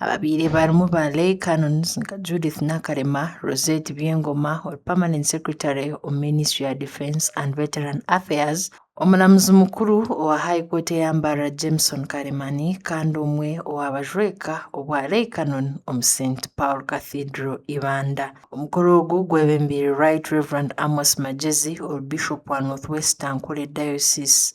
Ababaire barimu ba Leigh Canons nka Judith Nakarema, Rosette Byengoma ori Permanent Secretary omu Ministry ya Defence and Veteran Affairs, Omuramuzi Mukuru owa High Court eyambarira Jameson Karemani kandi omwe owa bajweka obwa Leigh Canon omu St Paul Cathedral Ibanda. Omukoro ogu gwebembeirwe Right Rev Amos Magyezi ori Bishop wa North West Ankole Diocese.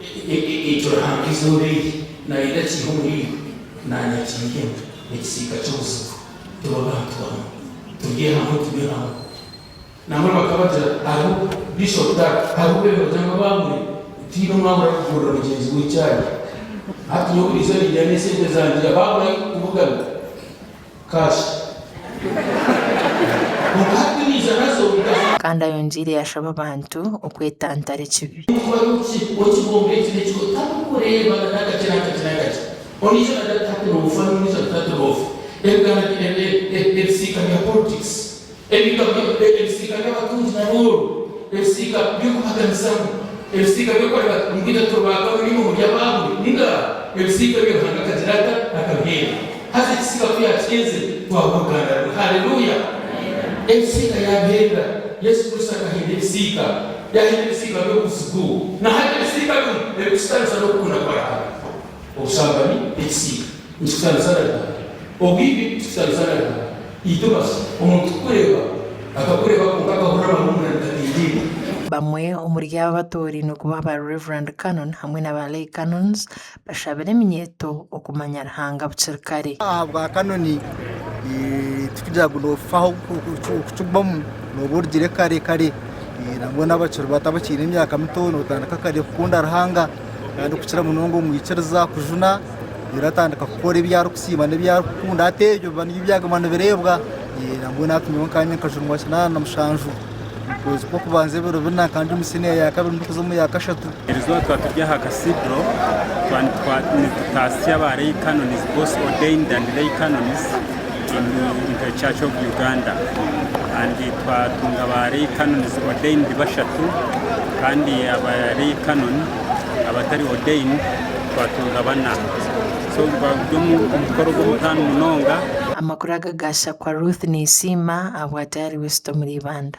Ekyo Ruhanga eizooba eri naayenda kiihe omuri iwe? Naanye akiihemu ekisiika ky'obuzigu. Tube abantu bamwe. Turye hamwe, tunywe hamwe. Nambwenu bakabagira, Hariho, Bishop Dag, hariho obwire bagira ngu abaabure, tihaine omwe abura kugurira mugyenzi we chai. Hati nyowe buriizooba nindya n'esente zangye abaabura ahu kukubugana. Kandi ayongiire yashaba abantu okwetantara ekibi. Ebigabwa, ebisiika by'abatungi na booro, ebisiika by'okubaganisamu, ebisiika by'okureeba ngu itwe turi ba kabiri omu by'abaahuri, ninga ebisiika ebyo Ruhanga akagira ata? Akabiheerwa. Haza ekisiika ku yaakihenzire, twaba oruganda rwe. Haleluya! Ebisiika yaabiheerera. Yesu Kristo akahenda ebisiika. Yaahenda ebisiika by'obuzigu. Nahati ebisiika bimwe ebikushitamiza n'okukunda kwa Ruhanga. Obushambani n'ekisiika. Nitushariza na Ruhanga. Obwire obu turikushariza na Ruhanga, itwe bashi, omuntu kukureeba, akakureeba kwonka akahurira amahumura nigataindiibwa. Bamwe omuri abo abatoorainwe kuba ba Reverend Canon hamwe na ba Lay Canons bashabire eminyeeto okumanya Ruhanga bukiri kare. Ahabwa Canon tikugira ngu noofaho kukigumamu nooba orugire kare kare. Nangwa n'abakiri bato abakiine emyaka mito nootandika kare kukunda Ruhanga kandi kukira munonga omwikiriza kujuna. Reero atandika kukora ebi arikusiima n'ebi arikukunda, hati ebyo biba nibyo byaguma nibireebwa. Ee, nabwo natwe nyowe nkanye nkajumwa kinaana na mushanju omu kwezi kw'okubanza ebiro bina, nkandi omu siniya ya kabiri ndikuza omu ya kashatu. Buri izooba twaba turi aha Cathedral, twaba nitutaasya ba Lay Canons, both ordained and lay canons in Int'l Church of Uganda. And twatunga ba Lay Canons ordained bashatu kandi aba Lay Canon, abatari ordained twatunga bana so bari omukukora ogu omutaano munonga. Amakuru aga ga Shakwa Ruth Neysiima ahabwa Diary Wisdom Liibanda.